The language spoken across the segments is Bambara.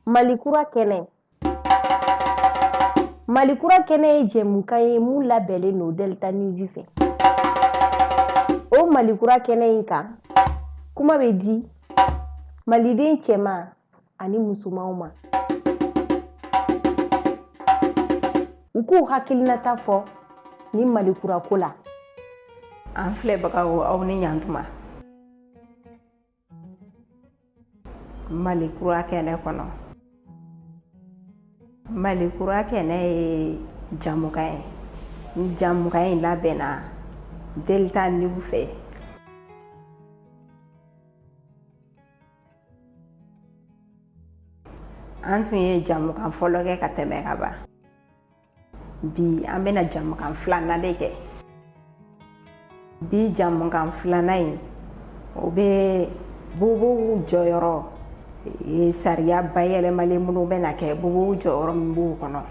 Malikura kɛnɛ Malikura kɛnɛ ye jɛmukan ye mun labɛnnen don Delta News fɛ. O Malikura kɛnɛ in kan, kuma bɛ di Maliden cɛman ani musomanw ma. U k'u hakilinata fɔ ni Malikura ko la. An filɛbagaw aw ni ɲantuma. mali kura kɛnɛ kɔnɔ mali kura kɛnɛ ye jamukan ye ni jamukan in labɛnna delta news fɛ an tun ye jamukan fɔlɔ kɛ ka tɛmɛ ka ban bi an bɛna jamukan filanan de kɛ bi jamukan filanan in o bɛ bobow jɔyɔrɔ e, sariya bayɛlɛmali minnu bɛna kɛ bobow jɔyɔrɔ min b'u kɔnɔ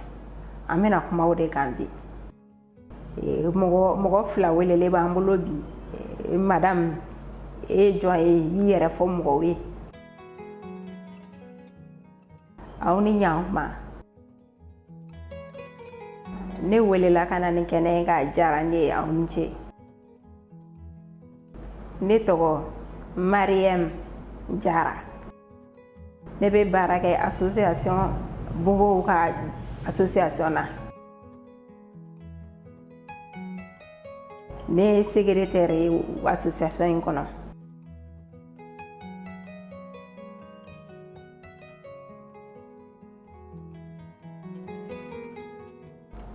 an bɛna kuma o de kan bi e, mɔgɔ mɔgɔ fila welelen b'an bolo bi e, madamu e ye jɔn ye i b'i yɛrɛ fɔ mɔgɔw ye aw ni ɲankuma ne welela ka na nin kɛnɛ in kan a diyara ne ye aw ni ce ne tɔgɔ mariyɛm jara ne bɛ baara kɛ association bobow ka association na ne ye segeretɛri ye association in kɔnɔ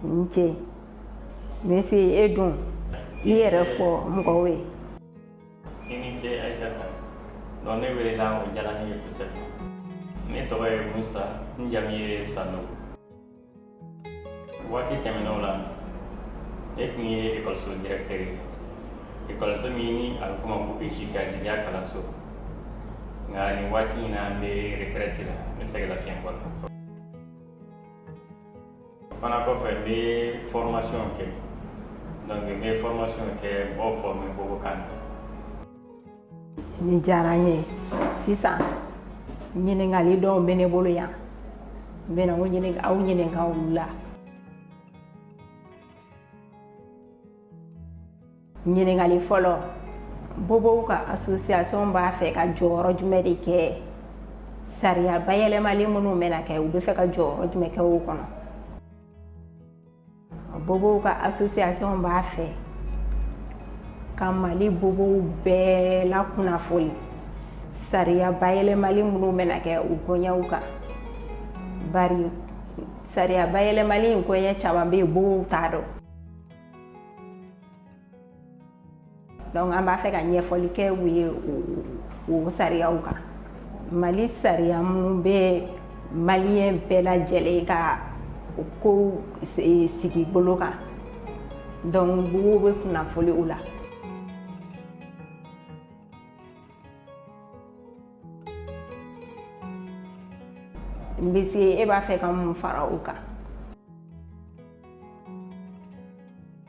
nce monsieur e dun i yɛrɛ fɔ mɔgɔw ye i ni ce aisata donc ne welela o diyara ne ye kosɛbɛ ne tɔgɔ ye musa n jamu ye sanogo waati tɛmɛnenw la ne tun ye ekɔliso directeur ye ekɔliso min ni a bɛ f'o ma ko EJK jigiya kalanso nka nin waati in na n bɛ retraite la n bɛ sɛgɛnlafiɲɛbɔ la o fana kɔfɛ n bɛ formation kɛ donc n bɛ formation kɛ mɔgɔw former bobokan na Ni diyara n ye sisan ɲininkali dɔw bɛ ne bolo yan n bɛna aw ɲininka olu la ɲininkali fɔlɔ bobow ka association b'a fɛ ka jɔyɔrɔ jumɛn de kɛ sariya bayɛlɛmali minnu bɛna kɛ u bɛ fɛ ka jɔyɔrɔ jumɛn kɛ o kɔnɔ Bobow ka association b'a fɛ ka Mali bobow bɛɛ lakunnafoni sariya bayɛlɛmali minnu bɛna kɛ u koɲɛw kan bari sariya bayɛlɛmali in koɲɛ caman bɛ yen bobow t'a dɔn donc an b'a fɛ ka ɲɛfɔli kɛ u ye o sariyaw kan mali sariya minnu bɛ maliyɛn bɛɛ lajɛlen ka kow sigi bolo kan donc bobow bɛ kunnafoni u la n bɛ se e b'a fɛ ka mun fara o kan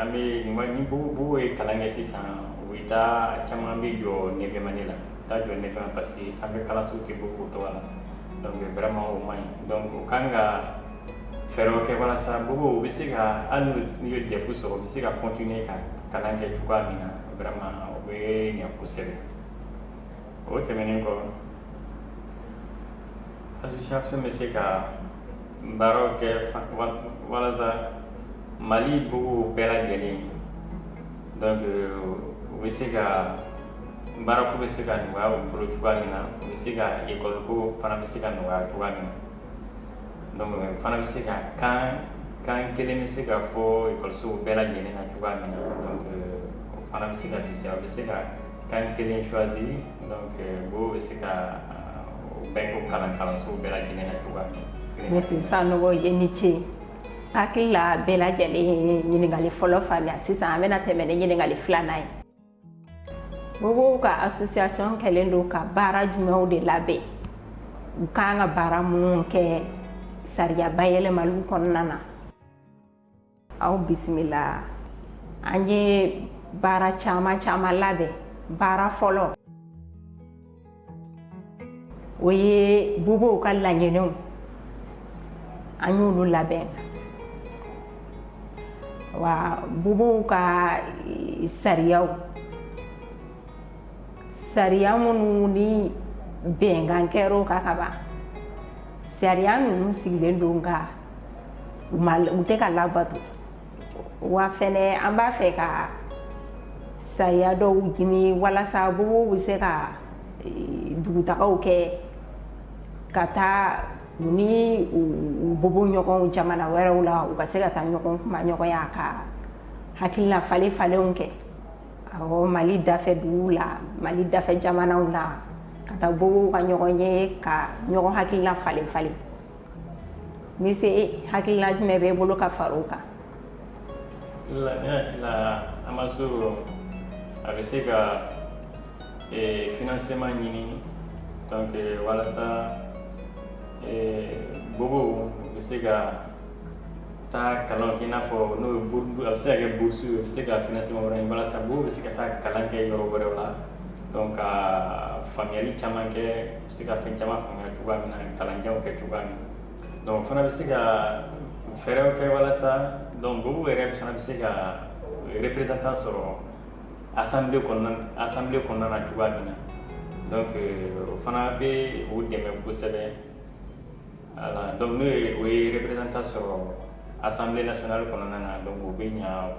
an ni bobow ye kalan kɛ sisan u bɛ taa caman bɛ jɔ neuvième année la taa jɔ neuvième na parce que sanfɛ kalansow tɛ bobow tɔgɔ la donc vraiment o man ɲi donc u kan ka fɛɛrɛ kɛ walasa bobow bɛ se ka hali n'u ye DEF sɔrɔ u bɛ se ka continuer ka kalan kɛ cogoya min na vraiment o bɛ ɲɛ kosɛbɛ o tɛmɛnen kɔ association bɛ se ka baaraw kɛ walasa mali bobow bɛɛ lajɛlen donc u bɛ se ka baarako bɛ se ka nɔgɔya u bolo cogoya min na u bɛ se ka ekɔliko fana bɛ se ka nɔgɔya cogoya min na donc fana bɛ se ka kan kan kelen bɛ se ka fɔ ekɔlisow bɛɛ lajɛlen na cogoya min na donc o fana bɛ se ka bisimilaw bɛ se ka kan kelen choisi donc euh, bobow bɛ se ka euh, o bɛɛ k'o kalan kalanso bɛɛ lajɛlen na cogoya min na. Merci Sanogo i ni ce. N hakili la bɛɛ lajɛlen ye ɲininkali fɔlɔ faamuya sisan an bɛna tɛmɛ ni ɲininkali filanan ye. Bobow ka association kɛlen don ka baara jumɛnw de labɛn u kan ka baara minnu kɛ sariya bayɛlɛmaliw kɔnɔna na. aw bisimila an ye baara caman caman labɛn baara fɔlɔ o ye bobow ka laɲiniw an y'olu labɛn wa bobow ka e, sariyaw sariya minnu ni bɛnkan kɛr'o kan ka ban sariya ninnu sigilen don nka u u tɛ ka labato wa fɛnɛ an b'a fɛ ka sariya dɔw ɲini walasa bobow bɛ se ka e, dugutagaw kɛ ka taa u ni u bobo ɲɔgɔnw jamana wɛrɛw la u ka se ka taa ɲɔgɔn kumaɲɔgɔnya ka hakilina falen falenw kɛ awɔ mali dafɛ duguw la mali dafɛ jamanaw la ka taa bobow ka ɲɔgɔn ye ka ɲɔgɔn hakilina falen falen Monsieur hakilina jumɛn bɛ i bolo ka fara o kan AMASOURDS a bɛ se ka financement ɲini donc walasa bobow bɛ se ka taa kalan kɛ n'a fɔ n'o a bɛ se ka kɛ bourse ye a bɛ se ka financement wɛrɛ ɲini walasa bobow bɛ se ka taa kalan kɛ yɔrɔ wɛrɛ la donc ka faamuyali caman kɛ Se ka fɛn caman faamuya cogoya min na kalanjan kɛ cogoya min na donc fana bɛ se ka fɛɛrɛw kɛ walasa donc bobow yɛrɛ fana bɛ se ka représentant sɔrɔ assemblée kɔnɔna na cogoya min na donc o fana bɛ o dɛmɛ kosɛbɛ voilà donc n'o ye o ye représentant sɔrɔ assemblée nationale kɔnɔna na donc o bɛ ɲɛ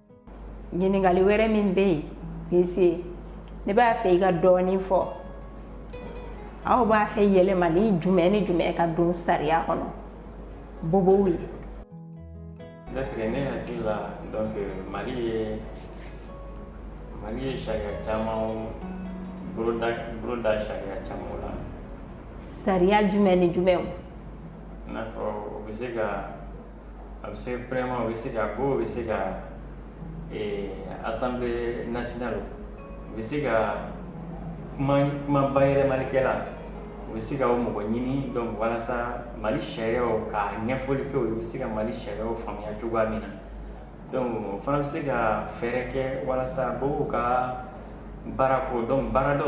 ɲininkali wɛrɛ min bɛ yen pese ne b'a fɛ i ka dɔɔnin fɔ aw b'a fɛ yɛlɛmali jumɛn ni jumɛn ka don sariya kɔnɔ bobow ye ne fɛ ne hakili la donc mali ye mali ye sariya caman boloda boloda sariya caman la sariya jumɛn ni jumɛnw i n'a fɔ o bɛ se ka a bɛ se premièrement o bɛ se ka bobow bɛ se ka assemblée nationale donc u bɛ se ka kuma bayɛlɛmalikɛla u bɛ se ka o mɔgɔ ɲini donc walasa mali sariyaw ka ɲɛfɔli kɛ u bɛ se ka mali sariyaw faamuya cogoya min na Donc o fana bɛ se ka fɛɛrɛ kɛ walasa bobow ka baarako donc baarada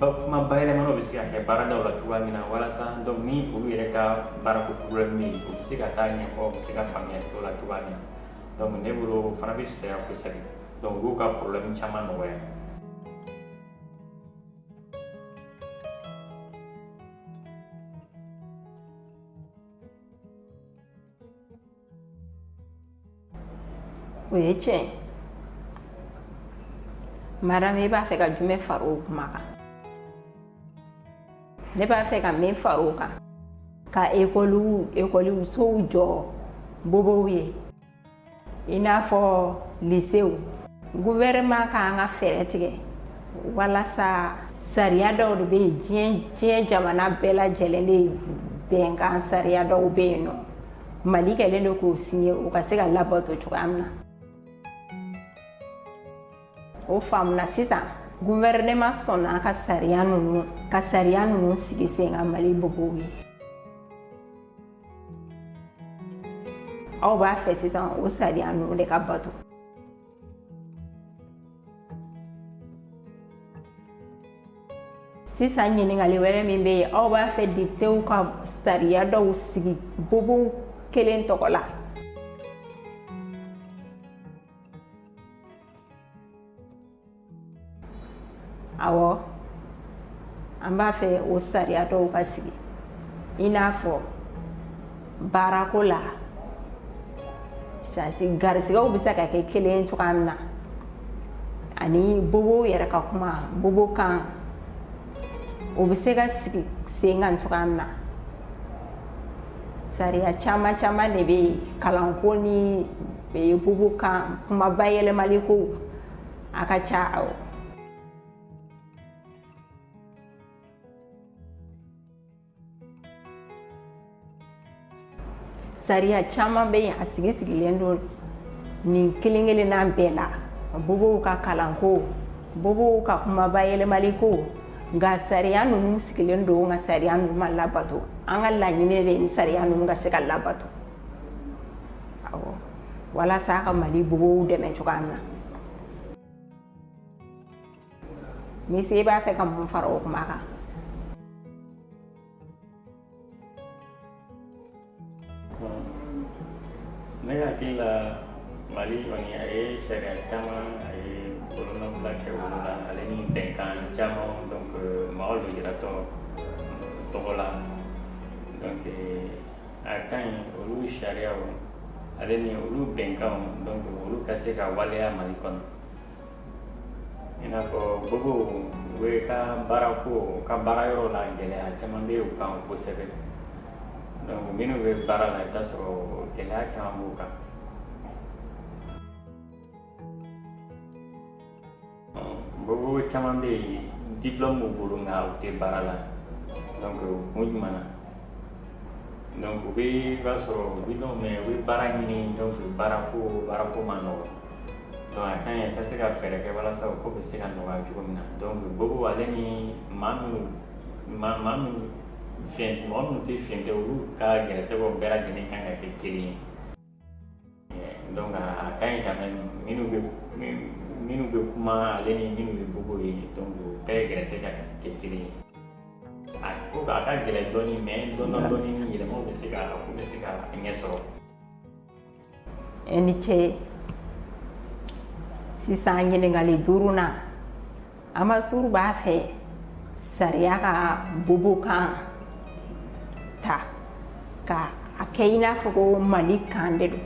la kuma bayɛlɛmanaw bɛ se ka kɛ baarada la cogoya min na walasa donc ni olu yɛrɛ ka baarako problème bɛ yen u bɛ se ka taa ɲɛfɔ u bɛ se ka faamuya o la cogoya min na donc ne bolo o fana bɛ fisaya kosɛbɛ donc o b'u ka problème caman nɔgɔya o ye tiɲɛ ye madame i b'a fɛ ka jumɛn fara o kuma kan ne b'a fɛ ka min fara o kan ka ekɔliw ekɔlisow jɔ bobow ye i n'a fɔ lisew gouvernement ka kan ka fɛɛrɛ tigɛ walasa sariya dɔw de bɛ yen diɲɛ diɲɛ jamana bɛɛ lajɛlen de bɛnkan sariya dɔw bɛ yen n'o mali kɛlen don k'u signé u ka se ka labato cogoya min na o faamuna sisan gouvernement sɔnna ka sariya ninnu ka sariya ninnu sigi sen kan mali bobow ye aw b'a fɛ sisan o sariya ninnu de ka bato sisan ɲininkali wɛrɛ min bɛ yen aw b'a fɛ depitew ka sariya dɔw sigi bobow kelen tɔgɔ la awɔ an b'a fɛ o sariya dɔw ka sigi i n'a fɔ baarako la chance garisigɛw bɛ se ka kɛ kelen cogoya min na ani bobow yɛrɛ ka kuma bobo kan o bɛ se ka sigi sen kan cogoya min na sariya caman caman de bɛ yen kalanko ni bobo kan kuma bayɛlɛmali ko a ka ca awɔ sariya caman bɛ yen a sigi sigilen don nin kelen kelenna bɛɛ la bobow ka kalanko bobow ka kuma bayɛlɛmali ko nka sariya ninnu sigilen don nka sariya ninnu ma labato an ka laɲini de ye nin sariya ninnu ka se ka labato walasa ka mali bobow dɛmɛ cogoya min na monsieur i b'a fɛ ka mun fara o kuma kan ne hakili la mali kɔni a ye sariya caman a ye bolonɔbila kɛ olu la ale ni bɛnkan caman donc mɔgɔ lujuratɔ tɔgɔ la donc a ka ɲi olu sariyaw ale ni olu bɛnkanw donc olu ka se ka waleya mali kɔnɔ i n'a fɔ bobow yɛrɛ ka baarako u ka baarayɔrɔ la gɛlɛya caman bɛ u kan kosɛbɛ donc minnu bɛ baara la i bɛ t'a sɔrɔ gɛlɛya caman b'u kan Bobo caman bɛ yen diplôme b'u bolo nka u tɛ baara la donc kun jumɛn na donc u bɛ i b'a sɔrɔ diplôméw bɛ baara ɲini donc baarako ma nɔgɔ donc a ka ɲi ka se ka fɛɛrɛ kɛ walasa o ko bɛ se ka nɔgɔya cogo min na donc bobo ale ni maa mɔgɔ minnu tɛ fiɲɛ tɛ olu ka gɛrɛsɛgɛw bɛɛ lajɛlen kan ka kɛ kelen ye Donc a ka ɲi quand même minnu bɛ minnu bɛ kuma ale ni minnu bɛ bobo ye donc u bɛɛ gɛrɛsɛgɛ ka kɛ kelen ye a ko a ka gɛlɛn dɔɔni mais dɔɔni dɔɔni ni yɛlɛmaw bɛ se ka a ko bɛ se ka ɲɛ sɔrɔ i ni ce sisan ɲininkali duurunan amasuru b'a fɛ sariya ka bobokan ta ka a kɛ i n'a fɔ ko mali kan de don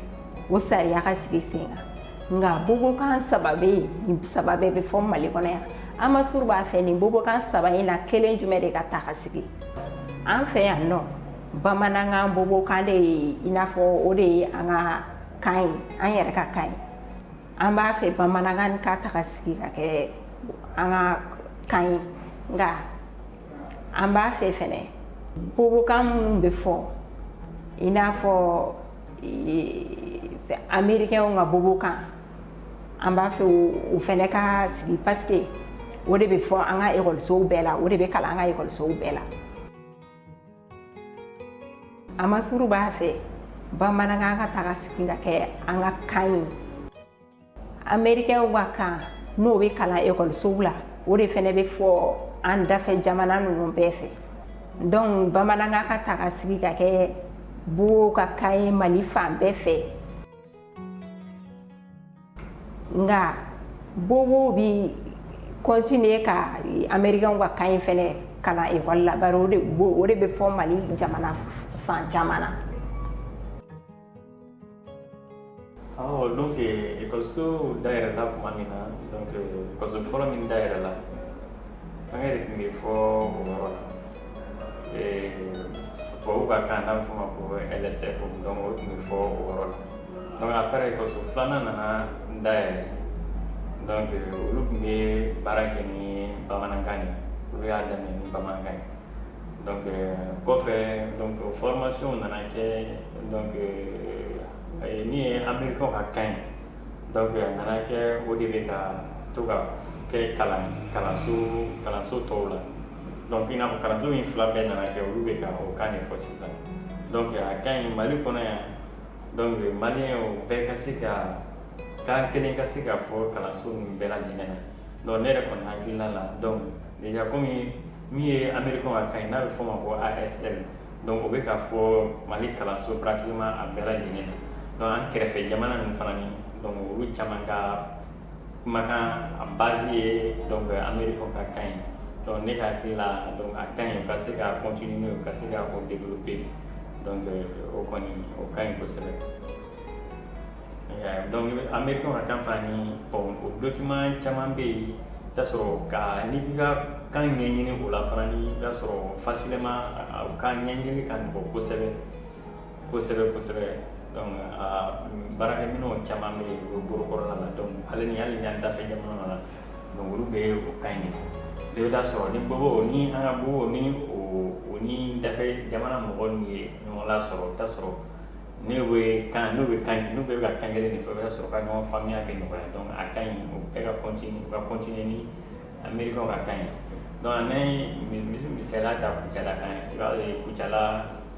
o sariya ka sigi sen kan nka bobokan saba bɛ yen nin saba bɛɛ bɛ fɔ mali kɔnɔ yan amasuru b'a fɛ nin bobokan saba in na kelen jumɛn de ka ta ka sigi an fɛ yan nɔ bamanankan bobokan de ye i n'a fɔ o de ye an ka kan ye an yɛrɛ ka kan ye an b'a fɛ bamanankan ka ta ka sigi ka kɛ an ka kan ye nka an b'a fɛ fɛnɛ bobokan minnu bɛ fɔ i n'a fɔ amerikɛnw ka bobokan an b'a fɛ o fɛnɛ ka sigi pasike o de bɛ fɔ an ka ekɔlisow bɛɛ la o de bɛ kalan an ka ekɔlisow bɛɛ la amasuru b'a fɛ bamanankan ka ta ka sigi ka kɛ an ka kan ye amerikɛnw ka kan n'o bɛ kalan ekɔlisow la o de fɛnɛ bɛ fɔ an dafɛ jamana ninnu bɛɛ fɛ donc bamanankan ka ta ka sigi ka kɛ bobow ka kan ye mali fan bɛɛ fɛ nka bobo bi continuer ka americain ka kan in fɛnɛ kalan ekɔli la bari o de bɛ fɔ mali jamana fan caman na awɔ donc ekɔliso dayɛlɛla tuma min na donc ekɔliso fɔlɔ min dayɛlɛla fɛngɛ de tun bɛ fɔ o yɔrɔ la Buw ka kan n'a bɛ fɔ o ma ko lsf dɔnku o tun bɛ fɔ o yɔrɔ la dɔnku après ekɔliso filanan nana dayɛlɛ dɔnku olu tun bɛ baara kɛ ni bamanankan ye olu y'a daminɛ ni bamanankan ye dɔnku kɔfɛ dɔnku formation nana kɛ dɔnku min ye amerikɛnw ka kan ye dɔnku a nana kɛ o de bɛ ka to ka kɛ kalanso tɔw la donc i n'a fɔ kalanso in fila bɛɛ nana kɛ olu bɛ ka o kan de fɔ sisan donc a ka ɲi mali kɔnɔ yan donc maliyɛnw bɛɛ ka se ka kan kelen ka se ka fɔ kalanso ninnu bɛɛ lajɛlen na donc ne yɛrɛ kɔni hakilina la donc déjà komi min ye amerikɛnw ka kan ye n'a bɛ fɔ o ma ko asl donc o bɛ ka fɔ mali kalanso pratiquement a bɛɛ lajɛlen na donc an kɛrɛfɛ jamana ninnu fana ni donc olu caman ka kumakan a base ye donc americain ka kan ye donc ne ka hakili la donc a ka ɲi u ka se ka continuer u ka se ka o développer donc o kɔni o ka ɲi kosɛbɛ donc americain ka kan fana ni bon o document caman bɛ yen t'a sɔrɔ ka n'i k'i ka kan ɲɛɲini o la fana ni i b'a sɔrɔ facilement o ka ɲɛɲini ka nɔgɔ kosɛbɛ kosɛbɛ kosɛbɛ donc a baarakɛminɛnw caman bɛ yen o bolo kɔrɔla la donc ale ni hali ni an dafɛ jamana na donc olu bɛ o kan in de i bɛ taa sɔrɔ ni bobo ni an ka bobo ni o ni dafɛ jamana mɔgɔ min ye ɲɔgɔn lasɔrɔ i bɛ taa sɔrɔ ne bɛ kan n'u bɛ kan n'u bɛ ka kan kelen de fɔ i bɛ taa sɔrɔ ka ɲɔgɔn faamuya bɛ nɔgɔya donc a ka ɲi o bɛɛ ka continuer u ka continuer ni americain ka kan ye donc n'an ye misaliya ta kucala kan i b'a ye kucala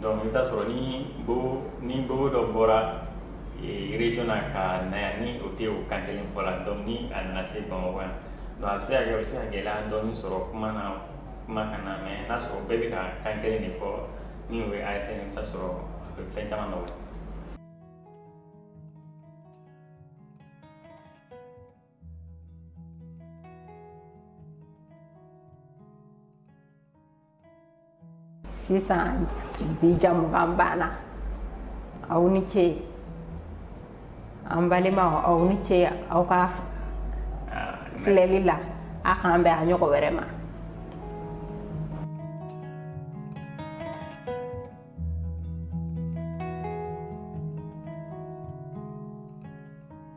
Donc i bɛ taa sɔrɔ ni bobo dɔ bɔra région na ka na yan ni o tɛ o kan kelen fɔ la donc ni a nana se bamakɔ yan donc a bɛ se a bɛ se ka gɛlɛya dɔɔni sɔrɔ kuma na kuma kan na mais n'a sɔrɔ bɛɛ bɛ ka kan kelen de fɔ min o ye ASL i bɛ taa sɔrɔ a bɛ fɛn caman nɔgɔya sisan bi jɛmukan banna aw ni ce an balimaw aw ni ce aw ka filɛli la a k'an bɛn a ɲɔgɔn wɛrɛ ma